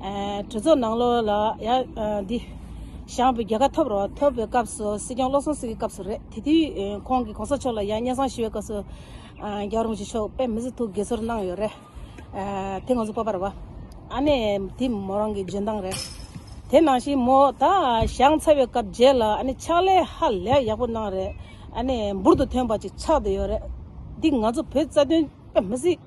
གྲོས་ཚོགས་ནང་ལོགས་ལ་ཡང་འདི་བཞག་པའི་རྒྱལ་ཁ་ཐོབ་རོགས་ཐོབ་པའི་སྐབས་སུ་སྲིད་སྐྱོང་བློ་བཟང་སེང་གེ་སྐབས་སུ་རེད་དེ་དུས་ཁོང་གིས་གོང་ས་མཆོག་ལ་ཡང་སྙན་བཟང་ཞུ་བའི་སྐབས་སུ་རྒྱ་རོང་ཇི་ཆོག་པས་མི་ཚེ་ཐུགས་དགྱེས་ཚོར་གནང་ཡོད་རེད་དེ་ང་ཚོ་སྤོབས་པར་བ་ཨ་ནེ་དེ་མོ་རང་གི་འཇོན་ཐང་རེད་དེ་ནང་བཞིན་མོ་ད་བཞག་ཚར་བའི་སྐབས་རྗེས་ལ་ཨ་ནེ་ཕྱག་ལས་ཧ་ལས་ཡག་པོ་གནང་རེད་ཨ་ནེ་འབུར་དུ་ཐོན་པ་ཅིག་ཆགས་བསྡད་ཡོད་རེད་འདི་ང་ཚོ་བོད་རྩ་དོན་པས་མི་ཚེ།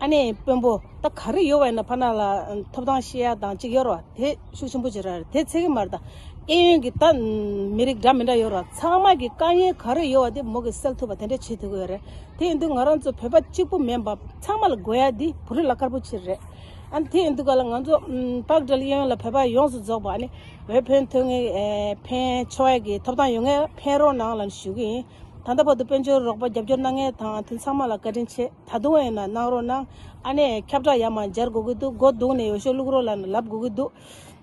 ཨ་ནེ་དཔོན་པོ་ད་ག་རེ་ཡོད་བ་ཡིན་ན་ཕ་ནང་ལ་ཐོབ་ཐང་ཤེས་ཡ་དང་གཅིག་ཡོད་ར་བ་དེ་ཤུགས་ཆེན་པོ་བྱེད་ར་དེ་ཚེ་གེ་མར་ད་ཨེ་ཡོན་གི་ད་མི་རིགས་འདྲ་མི་འདྲ་ཡོད་ར་བ་ཚང་མ་གི་དཀའ་ངལ་ག་རེ་ཡོད་བ་དེ་མོ་གི་སེལ་ཐུབ་པ་དེ་འདྲ་བྱེད་ཐུབ་གི་ཡོད་རེད་དེ་ཡིན་དུས་ང་རང་ཚོ་བོད་པ་གཅིག་པོ་མེད་འབབ་ཚང་མ་ལ་དགོས་ཡ་དེ་བུ་རི་ལ་དཀར་པོ་ཆེ་རེད་ཨ་དེ་ཡིན་དུས་ག་ལ་ང་ཚོ་པག་སྒྲིལ་ཨེ་ཡོན་ལ་བོད་པ་ཡོངས་སུ་རྫོགས་པ་ཨ་ནེ་བོད་ཕན་ཐོས་ངེས་ཕན་ཆོས་གི་ཐོབ་ཐང་ཡོད་ངེས་ཕན་རོགས་ནང་ལ་ཞུ་གི་ཡིན། ད་ལྟ་བར་དུ་དཔལ་འབྱོར་རོགས་པ་རྒྱབ་སྐྱོར་གནང་མཁན་དང་དེ་ཚང་མ་ལ་བཀའ་དྲིན་ཆེ། ད་དུང་ཡིན་ན་གནང་རོགས་གནང། ཨ་ནེ། ཁྱབ་བསྒྲགས་ཡག་མ་སྦྱར་དགོས་ཀྱི་འདུག་སྒོ་བརྡུང་ནས་ཡོ་ཤོ་བླུག་རོགས་ལ་ནི་ལབ་དགོས་ཀྱི་འདུག།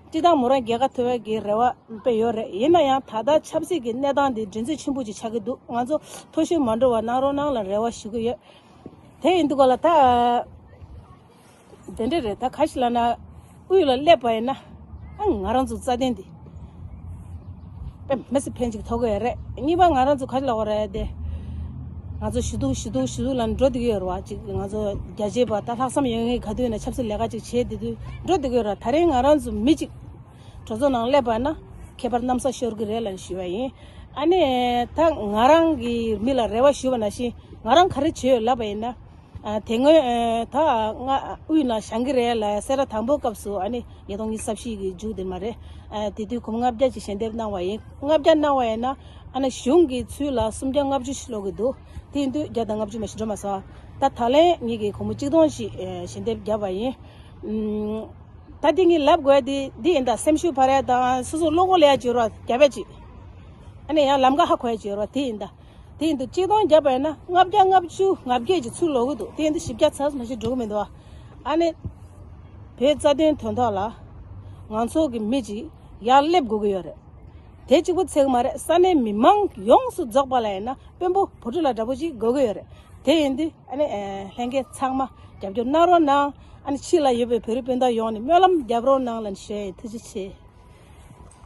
བཀྲིས་དང་མོ་རང་རྒྱལ་ཁ་ཐོ་བའི་གི་རེ་བ་དཔེ་ཡོད་རེད་ཡིན་ན་ཡང་ད་ལྟ་ཆབ་སྲིད་ཀྱི་གནས་སྟངས་འདི་འགྲན་རྩོད་ཆེན་པོ་ཅིག་ཆགས་ཀྱི་འདུག་ང་ཚོ་མཐོ་ཤོས་མ་འགྲོ་བ་གནང་རོགས་གནང་ལ་རེ་བ་ཞུ་གི་ཡོད་དེ་ཡིན་འདུག་ག་ལ་ད། དེ་འདྲ་རེད་ད་ག་ཞིག་ལ་ན་དབུས་ལ་སླེབས་པ་ཡིན་ན་ང་རང་ཚོ་རྩ་བརྟན་འདི་པེ་མེ་སི་ཕན་ཅིག་ཐོག་གི་ཡོད་རེད་གཉིས་པ་ང་རང་ཚོ་ག་ཞིག་ལ་བ་རེད་དེ་ང་ཚོ་ཞི་ཐུག་ཞི་ཐུག་ཞི་ཐུག་ལ་འགྲོ་འདི་གི་ཡོད་རེད་བ་ཅིག་ང་ཚོ་རྒྱ་ཆེ་བ་ད་ལྷག་བསམ་ཡོད་ངེས་ག་དུས་ན་ཆབ་སྲིད་ལས་ཀ་ཅིག་བྱེད་དེ་དུས་འགྲོ་འདི་གི་ཡོད་རེད་ད་རིང་ང་རང་ཚོ་མི་ཅིག་གྲོ་ཚོ་ནང་སླེབས་པ་ཡིན་ན་ཁྱད་པར་གནམ་ས་ཤོར་གི་རེད་ལ་ཞུས་བ་ཡིན་ཨ་ནེ་ད་ང་རང་གི་མི་ལ་རེ་བ་ཞུས་བ་ན་ཤིང་ང་རང་ག་རེ་བྱེད་ཡོད་ལབ་པ་ཡིན་ན་དེ་སྔོན་ད་ང་དབུས་ན་བྱང་གི་རེད་ལ་སེ་ར་དང་པོའི་སྐབས་སུ་ཨ་ནི་ཉིས་སྟོང་གཉིས་སར་ཕྱིས་གི་མཇུག་དེ་མ་རེད་དེ་དུས་གུམ་ལྔ་བརྒྱ་ཅིག་ཞལ་འདེབས་གནང་བ་ཡིན་ལྔ་བརྒྱ་གནང་བ་ཡིན་ན་ཨ་ནི་གཞུང་གི་ཚུལ་ལ་སུམ་བརྒྱ་ལྔ་བཅུ་ཞིག་སློག་གི་འདུག་དེའི་དུས་བརྒྱ་དང་ལྔ་བཅུ་མ་ཞིག་འགྲོ་མ་སོང་ད་ད་ལན་ཉིས་ཀྱི་གོང་བུ་གཅིག་སྟོང་ཞིག་ཞལ་འདེབས་བརྒྱབ་པ་ཡིན། ད་དེ་གཉིས་ལབ་དགོས་དེ་འདི་ཡིན་ད་སེམས་ཤུགས་འཕར་ཡ་དང་སོ་སོ་བློ་སྒོ་ལེགས་ཡ་བྱོས་རོགས་རྒྱ་བལ་ཅིག་ཨ་ནི་ཡང་ལམ་ཀ་ཧ་གོ་ཡ་བྱོས་རོགས་དེ་ཡིན་ད། དེ་ཡིན་དུ་གཅིག་སྟོང་བརྒྱ་བས་ན་ལྔ་བརྒྱ་ལྔ་བཅུ་ང་བརྒྱད་ཀྱི་ཚུལ་ལོག་གི་འདུག་དེ་ཡིན་དུ་བཞི་བརྒྱ་ཚར་སོང་ཞེས་སྒྲོག་གི་མི་འདུག་ཨ། ཨ་ནི། བོད་རྩ་དོན་དོན་ཐོག་ལ། ང་ཚོ་གི་མི་གཅིག་ཡར་སླེབས་དགོས་ཀྱི་ཡོད་རེད། དེ་གཅིག་པུ་ཚད་གི་མ་རེད་ས་གནས་མི་མང་ཡོངས་སུ་རྫོགས་པ་ལ་ཡིན་ན་དཔོན་པོ་བུ་ཕྲུག་ལ་འདྲ་པོ་གཅིག་དགོས་ཀྱི་ཡོད་རེད། དེ་ཡིན་དུ་ཨ་ནི། ལྷན་རྒྱས་ཚང་མ་རྒྱབ་སྐྱོར་གནང་རོགས་གནང། ཨ་ནི་ཕྱི་ལ་ཡོད་པའི་བོད་རིགས་སྤུན་ཟླ་ཡོངས་ནས་སྨོན་ལམ་རྒྱབ་རོགས་གནང་ལན་ཞེས་ཐུགས་རྗེ་ཆེ།